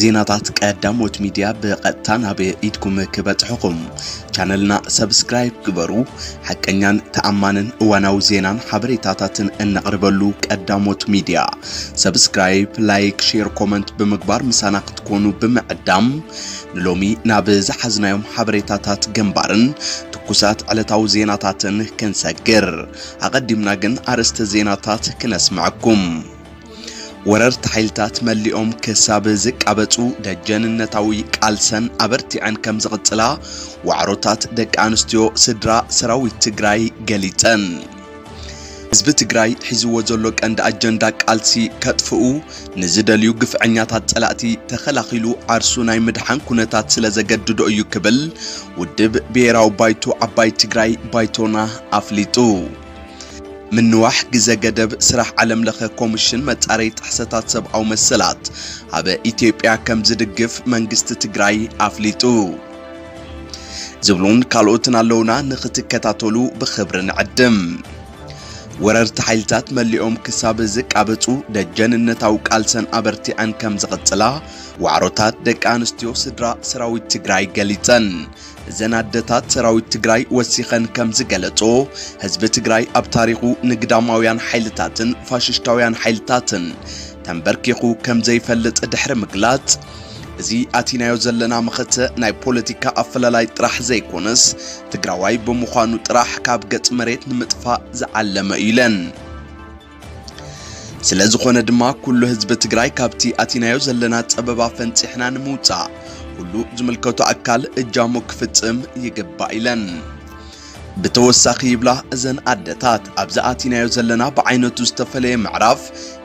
ዜናታት ቀዳሞት ሚድያ ብቐጥታ ናብ ኢድኩም ክበጽሕኹም ቻነልና ሰብስክራይብ ግበሩ። ሓቀኛን ተኣማንን እዋናዊ ዜናን ሓበሬታታትን እነቕርበሉ ቀዳሞት ሚድያ ሰብስክራይብ፣ ላይክ፣ ሼር፣ ኮመንት ብምግባር ምሳና ክትኮኑ ብምዕዳም ንሎሚ ናብ ዝሓዝናዮም ሓበሬታታት ግንባርን ትኩሳት ዕለታዊ ዜናታትን ክንሰግር ኣቐዲምና ግን ኣርእስተ ዜናታት ክነስምዐኩም። ወረርቲ ሓይልታት መሊኦም ክሳብ ዝቃበጹ ደጀንነታዊ ቃልሰን ኣበርቲዐን ከም ዝቕጽላ ዋዕሮታት ደቂ ኣንስትዮ ስድራ ሰራዊት ትግራይ ገሊጸን። ህዝቢ ትግራይ ሒዝዎ ዘሎ ቀንዲ ኣጀንዳ ቃልሲ ከጥፍኡ ንዝደልዩ ግፍዐኛታት ጸላእቲ ተኸላኺሉ ዓርሱ ናይ ምድሓን ኩነታት ስለ ዘገድዶ እዩ ክብል ውድብ ብሄራዊ ባይቶ ዓባይ ትግራይ ባይቶና ኣፍሊጡ። ምንዋሕ ግዘ ገደብ ስራሕ ዓለም ለኸ ኮምሽን መፃረይ ጥሕሰታት ሰብኣዊ መሰላት ኣብ ኢትዮጵያ ከምዝድግፍ መንግስቲ ትግራይ ኣፍሊጡ ዝብሉን ካልኦትን ኣለውና ንክትከታተሉ ብክብሪ ንዕድም። ወረርቲ ሓይልታት መሊኦም ክሳብ ዝቃበጹ ደጀንነታዊ ቃልሰን ኣበርቲዐን ከም ዝቕጽላ ዋዕሮታት ደቂ ኣንስትዮ ስድራ ሰራዊት ትግራይ ገሊጸን። እዘን ኣደታት ሰራዊት ትግራይ ወሲኸን ከም ዝገለጾ ህዝቢ ትግራይ ኣብ ታሪኹ ንግዳማውያን ሓይልታትን ፋሽሽታውያን ሓይልታትን ተንበርኪኹ ከም ዘይፈልጥ ድሕሪ ምግላጽ እዚ ኣቲናዮ ዘለና መኸተ ናይ ፖለቲካ ኣፈላላይ ጥራሕ ዘይኮነስ ትግራዋይ ብምዃኑ ጥራሕ ካብ ገጽ መሬት ንምጥፋእ ዝዓለመ እዩ ኢለን። ስለዝኾነ ድማ ኩሉ ህዝቢ ትግራይ ካብቲ ኣቲናዮ ዘለና ጸበባ ፈንፂሕና ንምውፃእ ኩሉ ዝምልከቱ ኣካል እጃሙ ክፍጽም ይግባእ ኢለን። ብተወሳኺ ይብላ እዘን ኣደታት ኣብዚ ኣቲናዮ ዘለና ብዓይነቱ ዝተፈለየ ምዕራፍ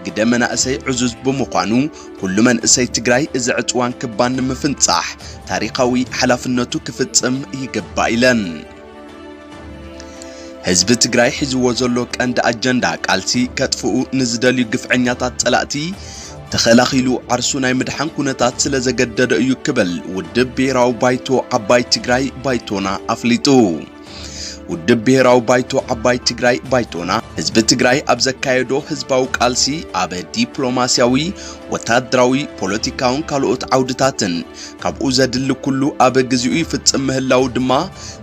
ግደ መናእሰይ ዕዙዝ ብምዃኑ ኩሉ መንእሰይ ትግራይ እዚ ዕፅዋን ክባን ንምፍንፃሕ ታሪኻዊ ሓላፍነቱ ክፍፅም ይግባእ ኢለን። ህዝቢ ትግራይ ሒዝዎ ዘሎ ቀንዲ ኣጀንዳ ቃልሲ ከጥፍኡ ንዝደልዩ ግፍዐኛታት ጸላእቲ ተኸላኺሉ ዓርሱ ናይ ምድሓን ኩነታት ስለ ዘገደደ እዩ ክብል ውድብ ብሔራዊ ባይቶ ዓባይ ትግራይ ባይቶና ኣፍሊጡ። ውድብ ብሔራዊ ባይቶ ዓባይ ትግራይ ባይቶና ህዝቢ ትግራይ ኣብ ዘካየዶ ህዝባዊ ቃልሲ ኣብ ዲፕሎማስያዊ፣ ወታደራዊ፣ ፖለቲካውን ካልኦት ዓውድታትን ካብኡ ዘድሊ ኩሉ ኣብ ግዚኡ ይፍጽም ምህላዉ ድማ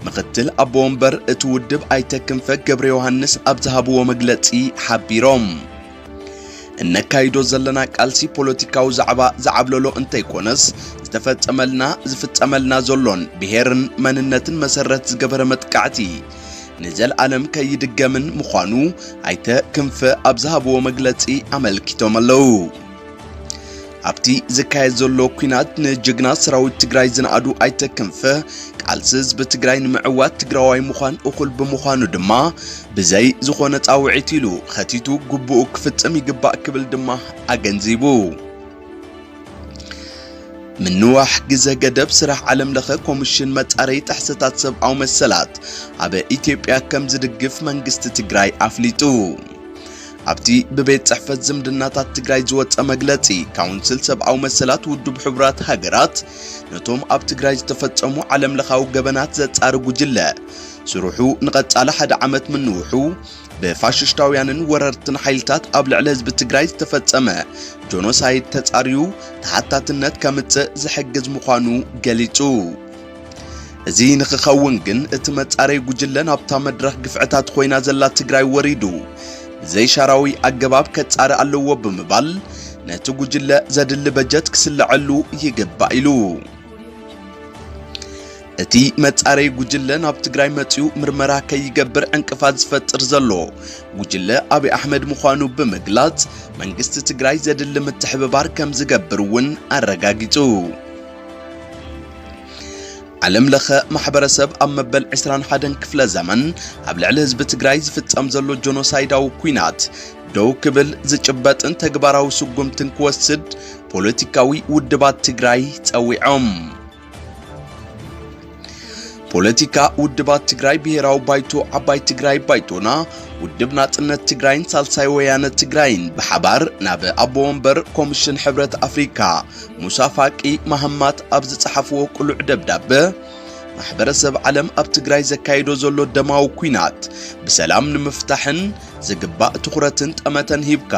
ምኽትል ኣቦ ወንበር እቲ ውድብ ኣይተ ክንፈ ገብረዮሃንስ ኣብ ዝሃብዎ መግለጺ ሓቢሮም። እነካይዶ ዘለና ቃልሲ ፖለቲካዊ ዛዕባ ዝዓብለሎ እንተይኮነስ ዝተፈጸመልና ዝፍጸመልና ዘሎን ብሄርን መንነትን መሰረት ዝገበረ መጥቃዕቲ ንዘልኣለም ከይድገምን ምዃኑ ኣይተ ክንፈ ኣብ ዝሃብዎ መግለጺ ኣመልኪቶም ኣለዉ። ኣብቲ ዝካየድ ዘሎ ኩናት ንጀግና ሰራዊት ትግራይ ዝነኣዱ ኣይተ ክንፈ ቃልሲ ህዝቢ ትግራይ ንምዕዋት ትግራዋይ ምዃን እኹል ብምዃኑ ድማ ብዘይ ዝኾነ ፃውዒት ኢሉ ኸቲቱ ግቡኡ ክፍፅም ይግባእ ክብል ድማ ኣገንዚቡ። ምንዋሕ ግዘ ገደብ ስራሕ ዓለም ለኸ ኮሚሽን መፃረይ ጥሕሰታት ሰብኣዊ መሰላት ኣብ ኢትዮጵያ ከም ዝድግፍ መንግስቲ ትግራይ ኣፍሊጡ። ኣብቲ ብቤት ጽሕፈት ዝምድናታት ትግራይ ዝወጸ መግለጺ፣ ካውንስል ሰብኣዊ መሰላት ውድብ ሕቡራት ሃገራት ነቶም ኣብ ትግራይ ዝተፈጸሙ ዓለምለኻዊ ገበናት ዘጻሪ ጉጅለ ስርሑ ንቐጻሊ ሓደ ዓመት ምንውሑ ብፋሽሽታውያንን ወረርትን ሓይልታት ኣብ ልዕሊ ህዝቢ ትግራይ ዝተፈጸመ ጆኖሳይድ ተጻርዩ ተሓታትነት ከምጽእ ዝሕግዝ ምዃኑ ገሊጹ። እዚ ንክኸውን ግን እቲ መጻረይ ጉጅለ ናብታ መድረኽ ግፍዕታት ኮይና ዘላ ትግራይ ወሪዱ ብዘይሻራዊ ኣገባብ ከጻሪ ኣለዎ ብምባል ነቲ ጉጅለ ዘድሊ በጀት ክስለዐሉ ይግባእ ኢሉ። እቲ መጻረይ ጉጅለ ናብ ትግራይ መጺኡ ምርመራ ከይገብር ዕንቅፋት ዝፈጥር ዘሎ ጉጅለ ኣብይ ኣሕመድ ምዃኑ ብምግላጽ መንግስቲ ትግራይ ዘድሊ ምትሕብባር ከም ዝገብር እውን ኣረጋጊጹ። ዓለም ለኸ ማሕበረሰብ ኣብ መበል ዕስራን ሓደን ክፍለ ዘመን ኣብ ልዕሊ ህዝቢ ትግራይ ዝፍጸም ዘሎ ጆኖሳይዳዊ ኩናት ደው ክብል ዝጭበጥን ተግባራዊ ስጉምትን ክወስድ ፖለቲካዊ ውድባት ትግራይ ጸዊዖም። ፖለቲካ ውድባት ትግራይ ብሔራዊ ባይቶ ዓባይ ትግራይ ባይቶና ውድብ ናጽነት ትግራይን ሳልሳይ ወያነ ትግራይን ብሓባር ናብ ኣቦ ወንበር ኮሚሽን ሕብረት ኣፍሪካ ሙሳ ፋቂ መሃማት ኣብ ዝጸሓፍዎ ቅሉዕ ደብዳበ ማሕበረሰብ ዓለም ኣብ ትግራይ ዘካይዶ ዘሎ ደማዊ ኩናት ብሰላም ንምፍታሕን ዝግባእ ትኹረትን ጠመተን ሂብካ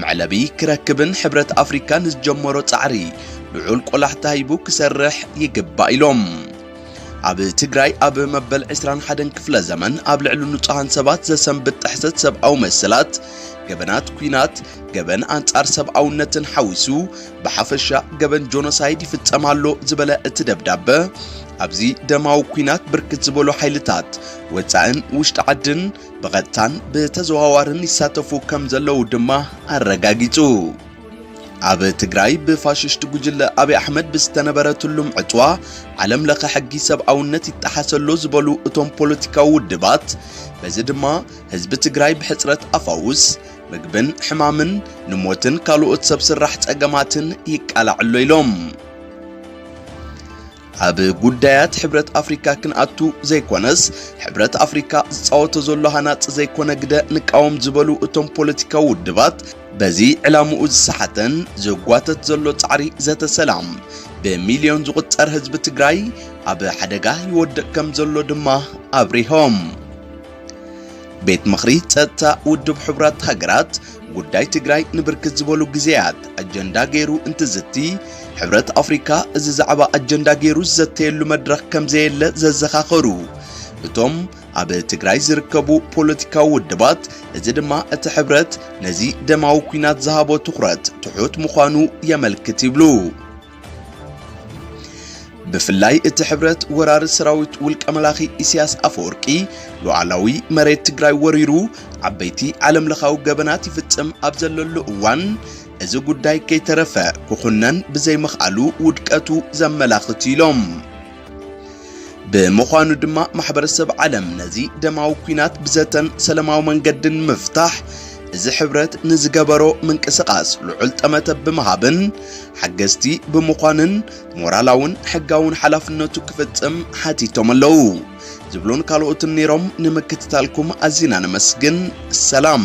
መዕለቢ ክረክብን ሕብረት ኣፍሪካ ንዝጀመሮ ፃዕሪ ልዑል ቆላሕታ ሂቡ ክሰርሕ ይግባእ ኢሎም። ኣብ ትግራይ ኣብ መበል 21 ክፍለ ዘመን ኣብ ልዕሊ ንጹሃን ሰባት ዘሰንብድ ጥሕሰት ሰብኣዊ መሰላት፣ ገበናት ኩናት፣ ገበን ኣንጻር ሰብኣውነትን ሓዊሱ ብሓፈሻ ገበን ጆኖሳይድ ይፍጸም ኣሎ ዝበለ እቲ ደብዳበ ኣብዚ ደማዊ ኩናት ብርክት ዝበሉ ሓይልታት ወጻእን ውሽጢ ዓድን ብቐጥታን ብተዘዋዋርን ይሳተፉ ከም ዘለዉ ድማ ኣረጋጊጹ። ኣብ ትግራይ ብፋሽስት ጉጅለ ኣብይ ኣሕመድ ብዝተነበረ ትሉም ዕጽዋ ዓለም ለኸ ሕጊ ሰብኣውነት ይጠሓሰሎ ዝበሉ እቶም ፖለቲካዊ ውድባት በዚ ድማ ህዝቢ ትግራይ ብሕጽረት ኣፋውስ ምግብን ሕማምን ንሞትን ካልኦት ሰብ ስራሕ ጸገማትን ይቃላዕሎ ኢሎም። ኣብ ጉዳያት ሕብረት ኣፍሪካ ክንኣቱ ዘይኮነስ ሕብረት ኣፍሪካ ዝፃወቶ ዘሎ ሃናፂ ዘይኮነ ግደ ንቃወም ዝበሉ እቶም ፖለቲካዊ ውድባት በዚ ዕላምኡ ዝሰሓተን ዘጓተት ዘሎ ፃዕሪ ዘተ ሰላም ብሚልዮን ዝቑፀር ህዝቢ ትግራይ ኣብ ሓደጋ ይወድቕ ከም ዘሎ ድማ ኣብሪሆም። ቤት ምኽሪ ጸጥታ ውድብ ሕቡራት ሃገራት ጉዳይ ትግራይ ንብርክት ዝበሉ ግዜያት ኣጀንዳ ገይሩ እንትዝቲ ሕብረት ኣፍሪካ እዚ ዛዕባ ኣጀንዳ ገይሩ ዝዘተየሉ መድረኽ ከምዘየለ ዘዘኻኸሩ እቶም ኣብ ትግራይ ዝርከቡ ፖለቲካዊ ውድባት እዚ ድማ እቲ ሕብረት ነዚ ደማዊ ኩናት ዝሃቦ ትኹረት ትሑት ምዃኑ የመልክት ይብሉ። ብፍላይ እቲ ሕብረት ወራሪ ሰራዊት ውልቀ መላኺ ኢሳያስ ኣፈወርቂ ሉዓላዊ መሬት ትግራይ ወሪሩ ዓበይቲ ዓለም ለኻዊ ገበናት ይፍጽም ኣብ ዘለሉ እዋን እዚ ጉዳይ ከይተረፈ ክኹነን ብዘይምኽኣሉ ውድቀቱ ዘመላኽት ኢሎም። ብምዃኑ ድማ ማሕበረሰብ ዓለም ነዚ ደማዊ ኩናት ብዘተን ሰለማዊ መንገድን ምፍታሕ እዚ ሕብረት ንዝገበሮ ምንቅስቓስ ልዑል ጠመተ ብምሃብን ሓገዝቲ ብምዃንን ሞራላውን ሕጋውን ሓላፍነቱ ክፍጽም ሓቲቶም ኣለዉ ዝብሉን ካልኦትን ነይሮም። ንምክትታልኩም ኣዚና ነመስግን። ሰላም